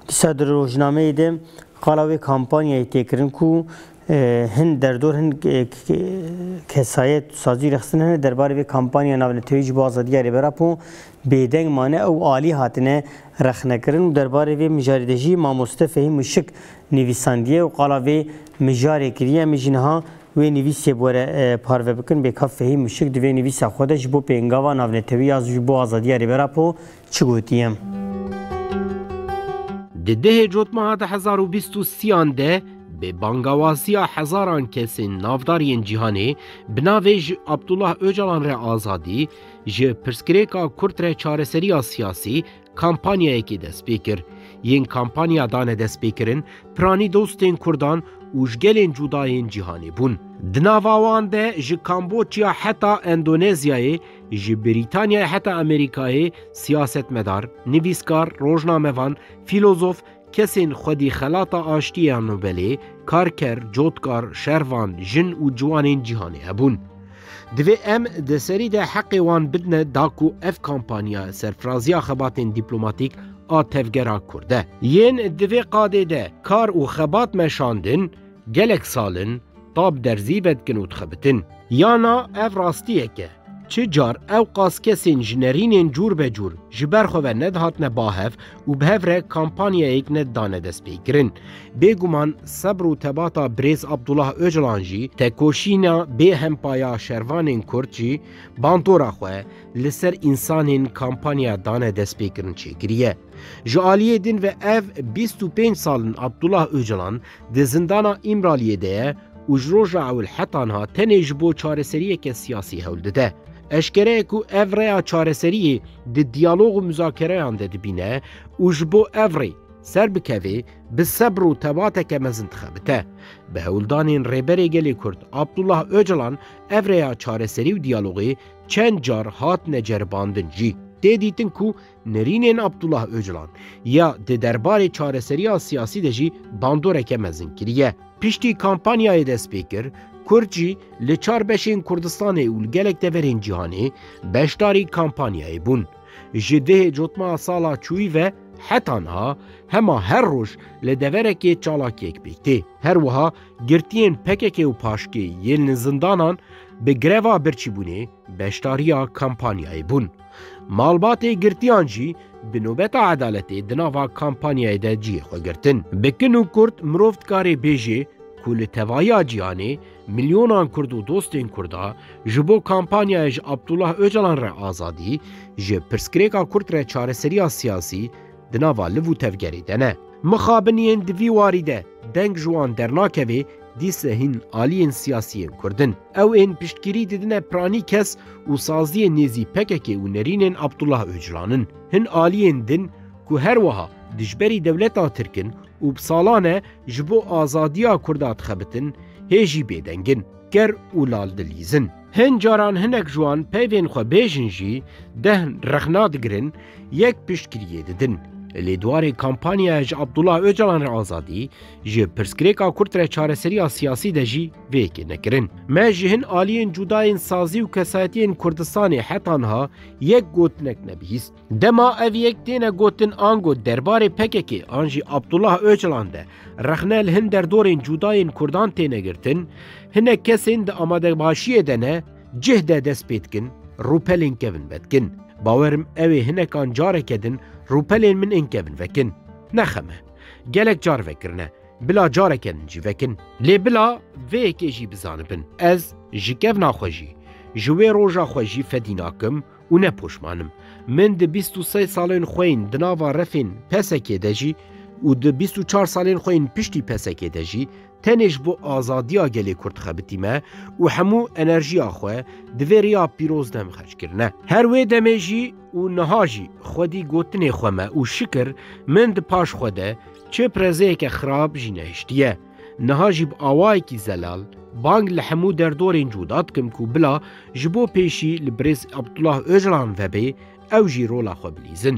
Dîsa di rojnameyê de qala wê kampanyayê tê kirin ku hin derdor hin kesayet û sazî rexistin hene derbarê vê kampanya navnetewî ji bo azadiya Rêber Apo bêdeng mane ew alî hatine rexnekirin û derbarê vê mijarê de jî mamoste Fehîm Muşik nivîsandiye û qala vê mijarê kiriye. Em ê jî niha wê nivîsê bi we re parve bikin. Bêkav Fehîm Muşik di vê nivîsa xwe de ji bo pêngava navnetewî ya ji bo azadiya Rêber Apo Çi gotiyem? Di dehê cotmeha di hezar û bîst û sîyan de bi bangawaziya hezaran kesên navdar yên cîhanê bi navê Ji Abdullah Ocalan re azadî, ji pirsgirêka Kurd re çareseriya siyasî kampanyayekê dest pê kir. Yên kampanya dane destpêkirin piranî dostên Kurdan û ji gelên cuda yên cîhanê bûn. Di nava wan de ji Kamboçya heta Endonezyayê, Ji Brîtanyayê heta Amerîkayê siyasetmedar, nivîskar, rojnamevan, fîlozof, kesên xwedî xelata aştiyê ya Nobelê, karker, cotkar, şervan, jin û ciwanên cîhanê hebûn. Divê em di serî de heqê wan bidne da ku ev kampanya serfiraziya xebatên dîplomatîk a tevgera Kurd e. Yên di vê qadê de kar û xebat meşandin, Gelek sal in tab derzî vedikin û dixebitin. Ya na ev rastiyek e. Çi car ewqas kesên ji nerînên cûrbecûr ji ber xwe ve nedihatine bahev û bi hev re kampanyayek nedidane destpêkirin. Bêguman sebr û tebata birêz Abdullah Ocalan jî, tekoşîna bê hempa ya şervanên Kurd jî bandora xwe li ser însanên kampanya dane destpêkirin çêkiriye. Ji aliyê din ve ev bîst û pênc sal in Abdullah Ocalan Di zindana Îmraliyê de ye û ji roja ewilhet anha tenê ji bo çareseriyeke siyasî hewl dide. Eşkere ye ku ev rêya çareseriyê di diyalog û muzakereyan de dibîne û ji bo ev rê ser bikevê bi sebr û tebateke mezin dixebite. Bi hewldanên Rêberê Gelê Kurd Abdullah Ocalan ev rêya çareserî û diyalogê çend car hatine ceribandin jî tê dîtin ku Nirînên Abdullah Ocalan ya di derbarê çareseriya siyasî de jî bandoreke mezin kiriye. Piştî kampanyayê dest pê kir, Kurd jî li çar beşên Kurdistanê û li gelek deverên cîhanê beşdarî kampanyayê bûn. Ji dihê cotma sala çûyî ve heta niha hema her roj li deverekê çalakiyek pêk tê. Her wiha girtiyên pkk û paşkê yên li zindanan bi greva birçîbûnê, Beşdariya kampanyayê bûn. Malbatê girtiyan jî bi nobeta edaletê di nava kampanyayê de cihê xwe girtin. Bi kin û kurt mirov dikarê bêjê ku li tevahiya cîhanê milyonan kurd û dostên kurda ji bo kampanyayê ji Abdullah Ocalan re azadî, ji pirsgirêka kurt re çareseriya siyasî, di nava liv û tevgerê de ne. Mixabiniyên di vî warî de deng ji wan dernakevê dîse hîn aliyên siyasî yên Kurd in. Ew ên piştgirî didine piranî kes û saziyên nêzî pkk û nerînên Abdullah Ocalan in. Hin aliyên din ku her wiha dijberî dewleta Tirk in û bi salan e ji bo azadiya Kurda dixebitin hê jî bêdeng in. ker û lal dilîzin. Hin caran hinek ji wan peyvên xwe bêjin jî dehn rexna digirin, yek piştgiriyê didin. Lê dwarê kampanyaya ji Abdullah Ocalan re azadî, ji pirsgirêka kurt re çareseriya siyasî de jî vê yekê nekirin. Me ji hin aliyên cudayên sazî û kesayetiyên Kurdistanê heta niha yek gotinek nebihîst. Dema ev yek têne gotin ango derbarê PKK'ê an jî Abdullah Ocalan de rexne li hin derdorên cûdayên Kurdan têne girtin, hinek kesên di amadebaşiyê de ne cih de dest pê dikin rûpelên kevin vedikin. Bawerim ewê hinekan careke din rûpelên min ên kevin vekin. Ne xeme. Gelek car vekirine. Bila careke din jî vekin. Lê bila vê yekê jî bizanibin ez ji kevna xwe jî, ji wê roja xwe jî fedî nakim Û ne poşman im. Min di bîst û sey salên xwe yên di nava refên PSK'ê de jî û di bîst û çar salên xwe yên piştî PSK'ê de jî tenê ji bo azadiya gelê Kurd xebitî me û hemû enerjiya xwe di vê riya pîroz de xerc kirine. Her wê demê jî û niha jî xwedî gotinê xwe me û şikir min di paş xwe de çi pirezeyeke xirab jî nehiştiye. Niha jî bi awayekî zelal bang li hemû derdorên cûda dikim ku bila ji bo pêşî li birêz Abdullah Ocalan vebê ew jî rola xwe bilîzin.